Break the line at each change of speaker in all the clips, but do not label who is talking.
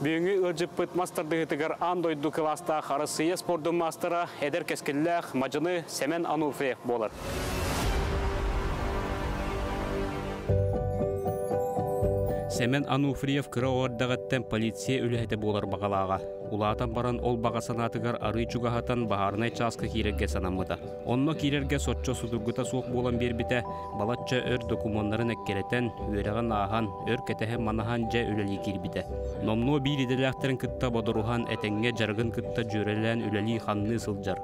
Бүгүҥҥү ыалдьыппыт мас тардыһыытыгар аан дойду кылаастаах Арассыыйа спордун маастара, эдэр кэскиллээх мадьыны Сэмэн Ануфриев буолар. Сэмэн Ануфриев кыра оҕордаҕыттан полиция үлэһитэ буолар баҕалааҕа. Улаатан баран ол баҕа санаатыгар арыы чугаһатан баһаарынай чааска киирэргэ санаммыта. Онно киирэргэ соччо судургута суох буолан биэрбитэ, балачча өр докумуоннарын эккирэтэн, үөрэҕин ааһан, өр кэтэһи-манаһан дьэ үлэлии киирбитэ. Номнуо биир идэлээхтэрин кытта бодоруһан, этэҥҥэ дьарыгын кытта дьүөрэлээн үлэлии-хамныы сылдьар.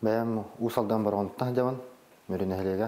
Бэйэм Уус Алдан Бороҕонуттан сылдьабын, Мүрү нэһилиэгэ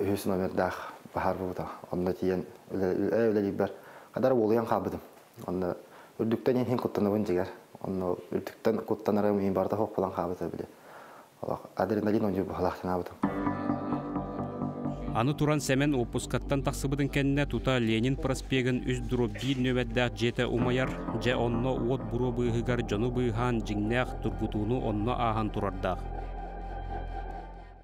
үһүс номердаах баһаарбыбыта. Онно тиийэн үлэлиирбэр хадара уолуйан хаалбытым. Онно үрдүктэн иһин куттанабын дьигэр. Онно үрдүктэн куттанарым мин барыта хоһ булан хаалбыта били. Олох адреналин онньуур быһалаах гынаабытым. Аны туран Сэмэн уоппускаттан тахсыбытын кэннэ тута Ленин проспегын үс дробь нөвердээх дьиэтэ умайар, дьэ онно уот буруо быыһыгар дьону быыһаан дьиҥнээх тургутууну онно ааһан турардаах.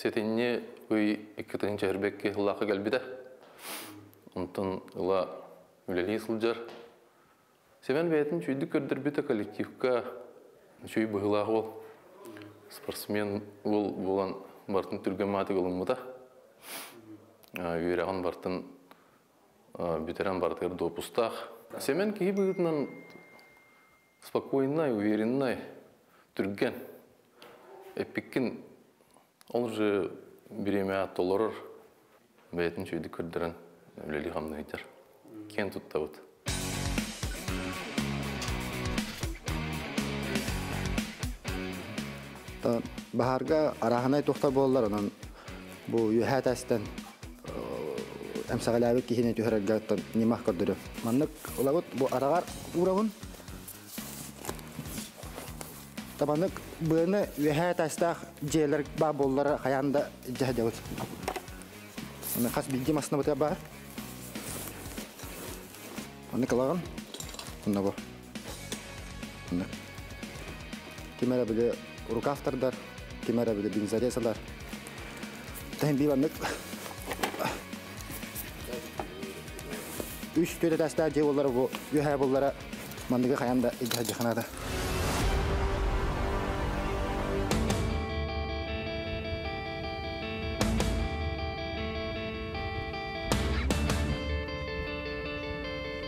Сэтинньи ый иккитин чэһэрбэкки ыллаахы кэлбитэ. Онтон ыла үлэлии сылдьар. Семен бэйэтин чүйдүк көрдөрбүтэ коллективка чүй быһылаах уол. Спортсмен уол буолан бартын түргэн маатык ылыммыта. Үөрэҕин бартын бүтэрэн барытыгар допустаах. Сэмэн киһи быһыытынан спокойнай, увереннай, түргэн. Эппиккин ол же бириэмэҕэ толорор бэйэтин үчүгэйдик көрдөрөн үлэлии-хамнаһыйдар. Киэн туттабыт. Баһаарга арааһынай тохта буоллар, онон бу үөһээ тастан эмсэҕэлээбит киһини түһэрэргэ ньымах көрдөрүм. Маннык ылабыт бу араҕар уурабын. Табаннык быаны үөһээ таастаах дьиэлэр баа буоллара хайаан да дьэһдэбит. Хас билги маснабыта баар. Маннык ылаҕын. Онно бу. Ким эрэ били рукавтардар, ким эрэ били бензорезалар. Тэһин биваннык үс түөтэтээстээх дьиэ буоллара бу үһэ буллара манныгы хайан да илдьэ сылдьаханаата.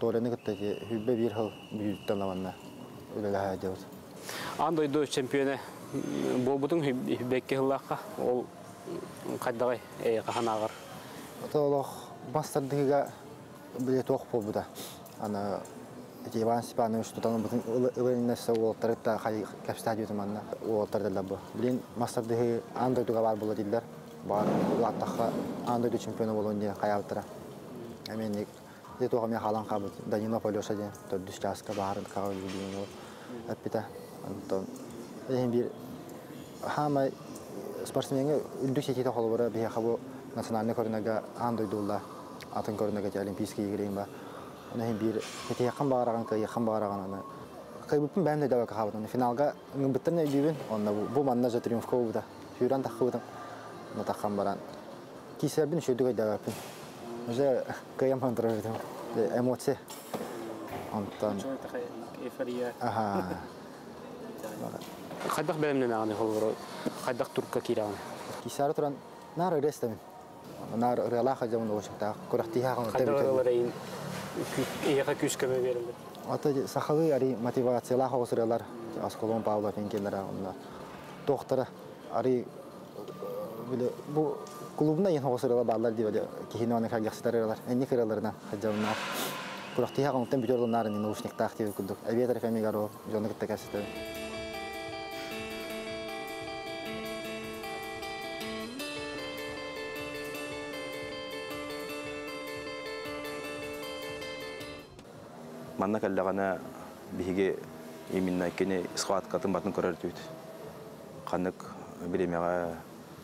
Толяны кытта Хүлбэ биир хыл бүлүүттэн аванна үлэлэһэ дьабыт. Аан дойду чемпиона буолбутуҥ Хүлбэкки хыллаахха ол хайдаҕай хахан ааҕар? Олох бас тардыһыга билет ох буолбута. Ана Иван Степанович тутан бүтүн ылыннарса уолаттарыта кэпсэһэ диютуманна уолаттар дылар бу. Блин мастардыһы аан дойдуга бар була дилер. баарын улааттахха аан дойду чемпиона буолуон диэн хайаабыттара эмиэнник ити туох эмиэ хаалан хаалбыт Данилов Алеша диэн төрдүс чааска баарын хаҕа үллүйэн ол эппитэ онтон иһин биир хаамай спортсменҥа үрдүк ситиитэ холобура биһиэхэ бу национальнай көрүнэргэ аан дойдулла атын көрүнэргэ олимпийские игрейин ба иһин биир кэтиэххин баҕараҕын кыайыаххын баҕараҕын аны кыйбыппын бэйэм да дьалака хаабытын финалга Ылбыттан өйдүүбүн. Онно бу манна дьэ триумфка сүүрэн таххыбытым. Но таххан баран киисэрбин үшүрдүк өйдөөбөппүн. Уже кыйам хантырыһытым. Эмоция. Онтон Хайдах бэлэмнэнэҕин холборо? Хайдах турка киирэҕин? Киисары туран наар өрө эстэбин. наар ырыалаах дьомун уочуктаах күрэхтиһэх ханна ырыаларыйын эйиэхэ күүс-көмө биэрэллэр ата сахалыы арый мотивациялаах оҕус ырыалар осколон павло пенкелера онно туохтара арый били бу клубна иһин оҕус ырыала бааллар дии били киһини аны харгахсытар ырыалар энник ырыаларынан хадьалнаах күрэхтиһэх оҥуттан бүтөр ылынаар наушниктаах диир курдук эбиэ трафемигар ол дьону кытта кэпсэтэн Манна кэллэҕинэ биһиги именно кини схваткатын батын көрөрдүбүт. Ханнык биримэҕэ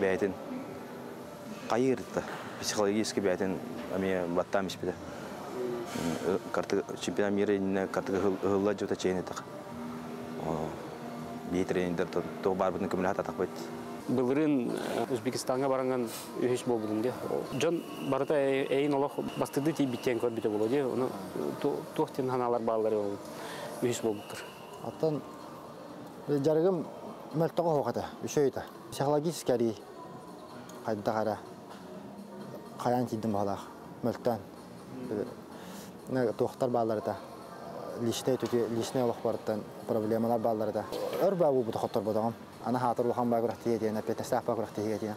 бэйэтин хайыырта психологически бэйэтин эмиэ баттаан испитэ картыга чемпионат мира иннинэ картыга ыһылла дьута чейин этэх бии тренердер туох баарбытын көмөлөһө атахпыт былырын Узбекистанга баранган үһүс буолбутум де дьон барыта эйин олох бастырды тиийбиттен көрбүтэ боло де ону туох тин ханалар бааллары үһүс болбуттар Оттон дьарыгым мөлтөх оһуох этэ, үсэй этэ. Психологический арий хайдах эрэ хайаан тиийдим баһылаах мөлтөөн. Туохтар бааллар этэ личнэй түтүө личнэй олохпарыттан проблемалар бааллар этэ өр баа буубута хотторботоҕум аны хаатыр улахан баа күрэхтиһиэ диэн опять сааппа күрэхтиһиигэ диэн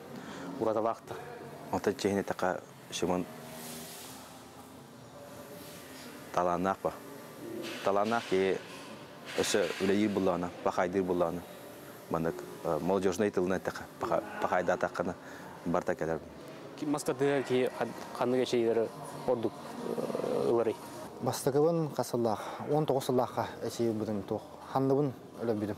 уратылаахтар. Онтон чиэһинэтэхэ Шимон талааннаах ба. Талааннаах киһи өссө үлэлиир буллаҕына, пахайдыыр буллаҕына, маннык молодежнай тылынан эттэхэ, пахайдаатаххына барта кэлэр. Бастакы киһи ханнык эчэйиилэри ордук ыларый? Бастакыбын хас сыллаах? 19 сыллаахха эчэйи ылбытым туох? Ханныбын өлөрбүтүм?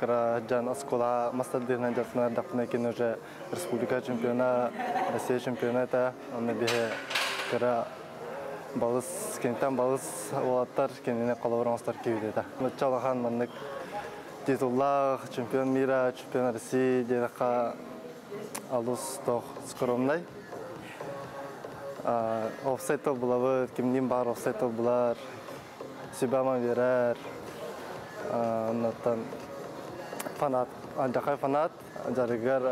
Кыраджан оскола мастардыынан дьахтана даппына кин уже республика чемпиона Россия чемпионата онно биһи кыра балыс киниттэн балыс уолаттар кинини холобур оҥостор киһидэтэ чалахан маннык титуллаах чемпион мира чемпион России диэтэххэ алус тох скромнай офсайт толбулабыт кимниин баар офсайт толбулар Сүбэм биэрэр. Оннуттан фанат, аллакай фанат, дьарыгар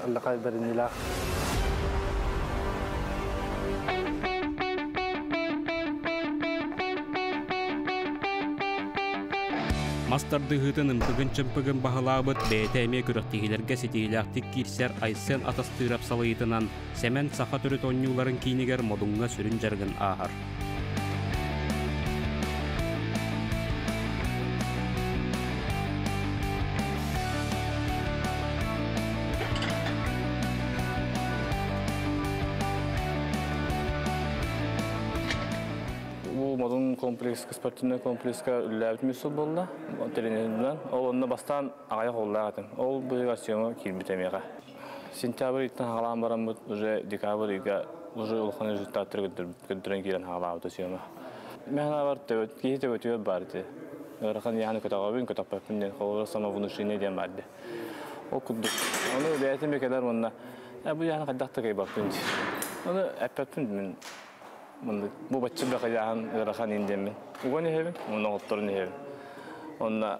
аллакай бэриниилээх. Мас тардыһыытын ымпыгын-чымпыгын баһылаабыт бэйэтэ эмиэ күрэхтэһиилэргэ ситиһиилээхтик киирсэр Айсен Атастыров салайыытынан Сэмэн саха төрүт оонньууларын киинигэр Модуҥҥа сүрүн дьарыгын ааһар. модун комплекска спортивный комплекска үллээбит миссур болла тренеринэн ол онно бастаан аҕайах оллаах атын ол быйыл съемка киирбит эмиэхэ Сентябрь ыйыттан хаалаан бараммыт уже декабрь ыйга уже улахан результаттары көрдөрөн киирэн хаалаабыта сүөмэ. Мен ханабар төбөт киһи төбөтүөр барды. Ырахан яханы көтөҕөбүн көтөппөппүн диэн холобура самовнушение диэн барды. Ол курдук. Оны бэйэтин бекелер уонна бу яханы хайдах такайбаппын дии. Оны эппеппин мен бу баччы бэхэ яхан ырахан индемин. Уган эһэбин, онно отторун эһэбин. Онна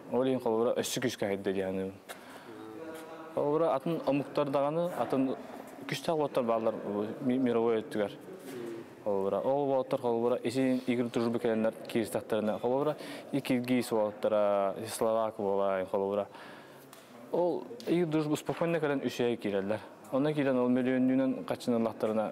Ол иһин холобура өссө күскэ хайда диэхэним. Холобура атын омуктар даҕаны атын күстэх боттор баалар мировой өттүгэр. Холобура ол боттор холобура исин игр дружбы келеннер киристахтарына холобура и киргиз болаттара словак болай холобура ол игр дружбу спокойно кэлен үсэе киреллер. Онна кирен ол мөлүөннүүнен каччыныллахтарына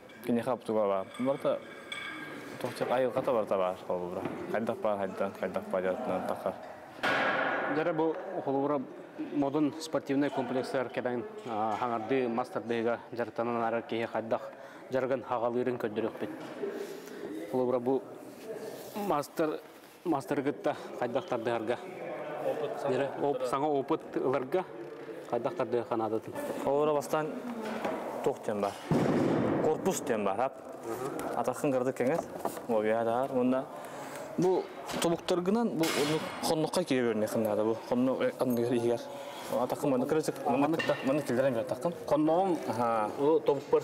киниэхэ обтубаба барыта тохчак айылҕата барыта баар холобура хайдах баар хайдан хайдах баар дьарыктанан тахар дьара бу холобура модун спортивный комплекстар кэбэн хаңардыы мас тардыыга дьарыктанан арар киһи хайдах дьарыгын хагалыырын көрдөрүөхпүт холобура бу мастер мастары кытта хайдах тардыһарга саҥа опыт ыларга хайдах тардыһарга наадатын холобура бастаан туох диэн бар корпус диэн бар атахын кырдык кеңес уобиаһар уонна бу тобуктаргынан бу оннук хоннукка кире көрүннэхин наада бу хонну анныгар иһигэр атакым манна кырасык манна манна киллэрэн бертахтым хонногум тобукпар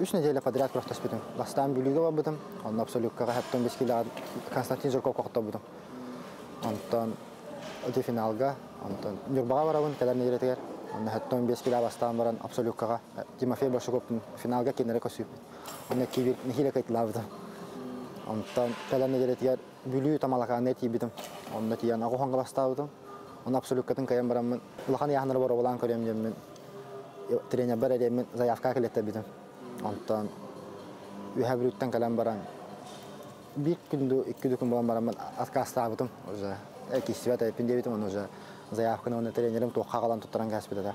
Үс нэдиэлэ квадрат күрэхтэспитим. Бастаан Бүлүүгэ барбытым, онно абсолюуккаҕа 75 килоҕа Константин Жирков тохтобутум. Онтон ити финалга, онтон Ньурбаҕа барабын кэлэр нэдиэлэтигэр. Онно 75 килоҕа бастаан баран абсолюуккаҕа Тимофей Большаковпун финалга киинэрэ көрсүүбүт. Онно киибир нэһиилэ кыайталаабытым. Онтон кэлэр нэдиэлэтигэр Бүлүү Тамалакааны тиийбитим. Онно тиийэн аҕыс хаҥаластаабытым. Оны абсолюккатын кайан бараммын, улахан ыйааһыннары боруобалаан көрүөм диэммин, тренербэр эриэммин заявка кэлэттэбитим. Онтон Үһэ Бүлүүттэн кэлэн баран, биир күндү, икки күн булан бараммын откастаабытым уже. Кистибэт эппин диэбитим, оны уже заявканы уонна тренерим туохха халан туттаран кээспит этэ.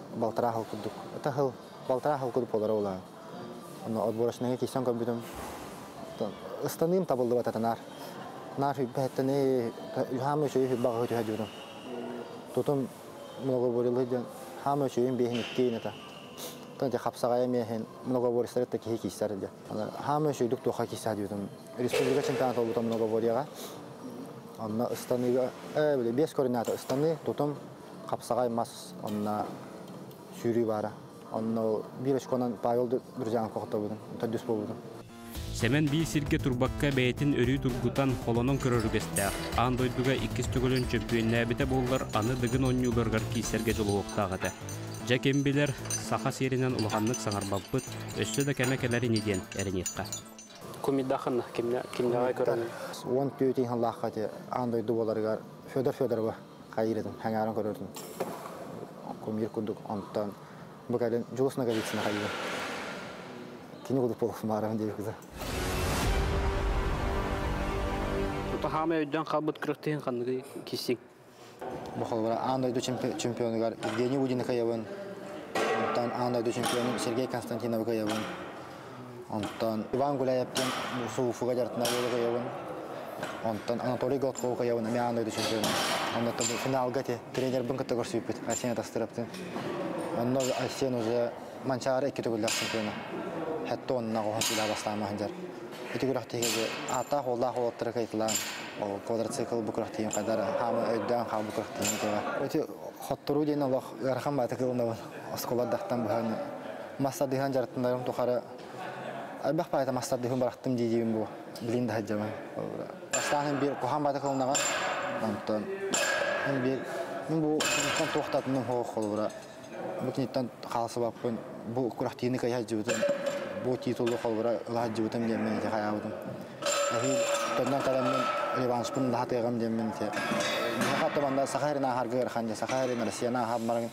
балтараа сыл курдук ыта сыл балтараа сыл курдук буолара улаан онно отборочнайга киирсэн көрбүтүм ыстаныым табыллыбат этэ наар наар сүйбэһэттэн эй хаама үчүөйү сүйбэҕэ түһэ диурум тутум многоборилы диэн хаама үчүөйүн биэһин иккиин это тан хапсаҕайа миэхин многобористары та киһи киисэр диэ хаама үчүөйдүк туоха киисэ диутум республика чемпионата болбута многоборияга онно ыстаныыга э били биэс координата ыстаныы тутум хапсаҕай мас онно сүүрүү баара. Онно биир очконан Павелды бүрдьаан кохотобутун, төрдүс буолбутум. Сэмэн биир сиргэ турбакка бэйэтин өрүү тургутан, холонон көрөр үгэстээх. Аан дойдуга иккис төгүлүн чөмпүйүөннээбитэ буоллар, аны Дыгын оонньууларыгар киирсэргэ дьулуһуохтаах этэ. Дьэ ким билэр, саха сиэринэн улаханнык саҥарбаппыт, өссө да кэмэ кэлэр ини диэн эрэниэххэ. Кумидахын кимнээҕи көрөҥҥүн? Уон түөрт иһин лаахха ити аан дойду буоларыгар Федор Федорова хайырытын, хаҥааран көрөрүн кумир курдук онтон бу кэлин Жолостна Голицына хайырын кини курдук полосмааран диэри кыса Тута хаама өйдөөн хаалбыт кырыктыһын ханныгы кисиң Бохолбара аан дойду чемпионугар Евгений Удиныкаевын онтон аан дойду чемпионун Сергей Константиновы кыйабын Онтон Иван Гуляев диэн муусу Уфуга дьарытына буолугайабын. Онтон Анатолий Голтков-Кайабын эмиэ аан дойду чемпиона. Онтон финалга тренербин кытта көрсүбүппүт Арсен Атастыраптын. Онно Арсен уже Манчаары икки төгүллээх чемпиона. Хэтте оннаҕа оһон силаа бастаама сылдьар. Ити күрэхтиһигэ ааттаах-уоллаах уоллаттары кайтылаан квадроцикл бу күрэхтиһин хайдара хаама өйдөөн хаал бу күрэхтиһин итиэҕэ. Эти хотторуу диэн олох ыарахан баата кылынабын. оскуолардахтан быһан массардыһан дьарыктанарым тухары элбэх баайата массардыһын бырахтым дии диибин бу билин да сылдьабын бастаан биир куһаан баата кылынаҕа онтон биир мин бу киниттэн туохтатыным хоох холбура бу киниттэн хаалсыбаппын бу күрэхтиини кыйа сылдьыбытым бу титулу холбура ыла сылдьыбытым диэммин ити хайаабытым эһиил төннөн кэлэммин Ливанушпун лаһатыаҕым диэммин ити Саха эрин ааһарга ыарахан дьэ Саха эрин Россияны ааһан баран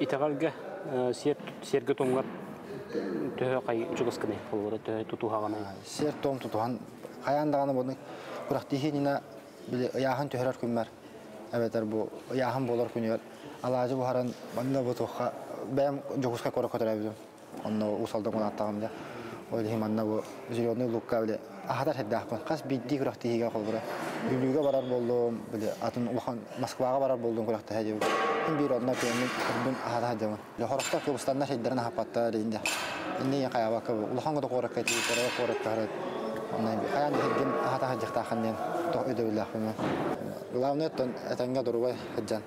Итэҕэлгэ сиэргэ-туомугар төһө чугаскыный, холобура төһө тутуһаҕыный? Сиэр-туом тутуһан хайаан даҕаны буну күрэхтиһиининэ били ыйааһын түһэрэр күммэр эбэтэр бу ыйааһын буолар күнүгэр алаадьы буһаран манна бу туохха бэйэм Дьокуускай куоракка төрөөбүтүм Онно уус-алдан гунааттаҕым да. Ол иһин манна бу зеленый лукка били аһатар сэрдэхпин. Хас биирдии күрэхтэһиигэ холбура. Бүлүүгэ барар буоллум, били атын улахан Москваҕа барар буоллум күрэхтэһэ диэбит. Мин биир онно кыаммын кырбын аһата сылдьабын. Хорохтор кыбыстаннар сирдэрин аһаппаттар инде. Инде ийэ хайаабакка бу улахан кута куоракка итиитэрэ куоракка хараат. Онно хайаан да сирдин аһата сылдьахтаахын диэн тоҕо өйдөбүллээхпин. Главное оттон этэҥҥэ дурубай сылдьан.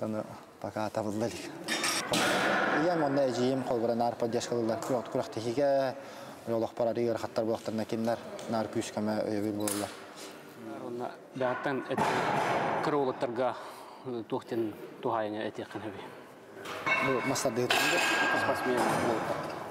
Ону покатабылла илик. Ийэм уонна эдьиийим холбура наар поддержка ылыллар күрэх-тиһигэ, олохпор арыый ыарахаттар буолахтарына кинилэр наар күүс-көмө өйөбүл буолаллар. Уонна бэҕэттэн кыраулаттарга туох диэн туһаайыны этиэххин сөбүй? Бу мастардыһыт. Спортсмен буолуохтар.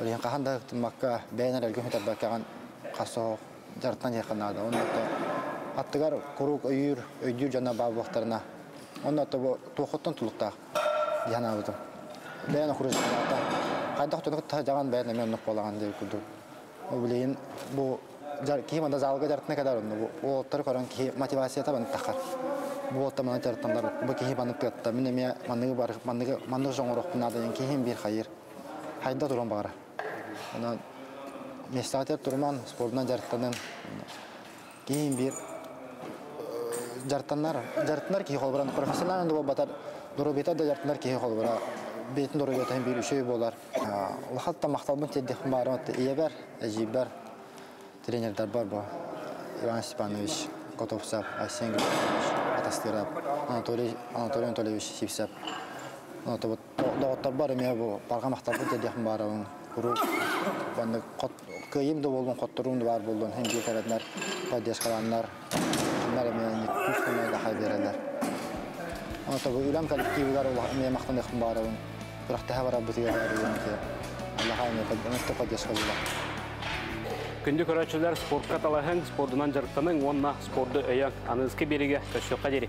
Оройуон хаһан да ытыммакка, бэйэн эрэлгэ көтөрбөккөҕүн хас дьарыктан диэххэ наада. Онно аттыгар куруук өйүүр, өйдүүр дьоно баар буолуохтарына, онно туохуттан тулуктаах дии санаабытым. Бэйэн окружениета хайдах тутук дьаҕан бэйэн эмиэ оннук буолаҕын диир курдук. Ол билигин бу киһи манда залга дьарыктана кэлэр онно уолаттары көрөн киһи мотивацията баныттахар. Бу уолтар маны дьарыктанар бу киһи маннык тыатта мин эмиэ манныгы бар манныгы маннык жоҥорохпун наада диэн киһим биир хайыр хайда туран баҕара. Онон местатер туруман спордунан дьарыктанын киһин биир дьарыктанар дьарыктанар киһи холбуран профессиональный буолбатар доруобуйата да дьарыктанар киһи холбура бэйэтин доруобуйатын биир үчүгэй буолар улахан махталбын тиэрдиэхпин баарым ийэбэр эдьиийбэр тренердарбар бу Иван Степанович Котовцев Айсен Григорьевич атастырап Анатолий Анатолий Анатольевич Сивцев доҕотторбор эмиэ бу паргамахтарбын тиэдиэхим баарабын куруук маннык кыайыым да буоллун хотторуум да баар буоллун иһин биир кэрэтнэр поддержкаланнар маннар эмиэ күүс майдаха биэрэлэр онто бу үлэм коллективыгар эмиэ махтаныахым баарабын күрэхтэһэ барарбытыгар эрийэн аллаха эмиэ эмэстэ поддержка була Күндү көрөөччүлэр спортка талаһыҥ, спордунан дьарыктаныҥ уонна спорду өйөҥ. Аныыскы биэригэ көрсүөххэ диэри.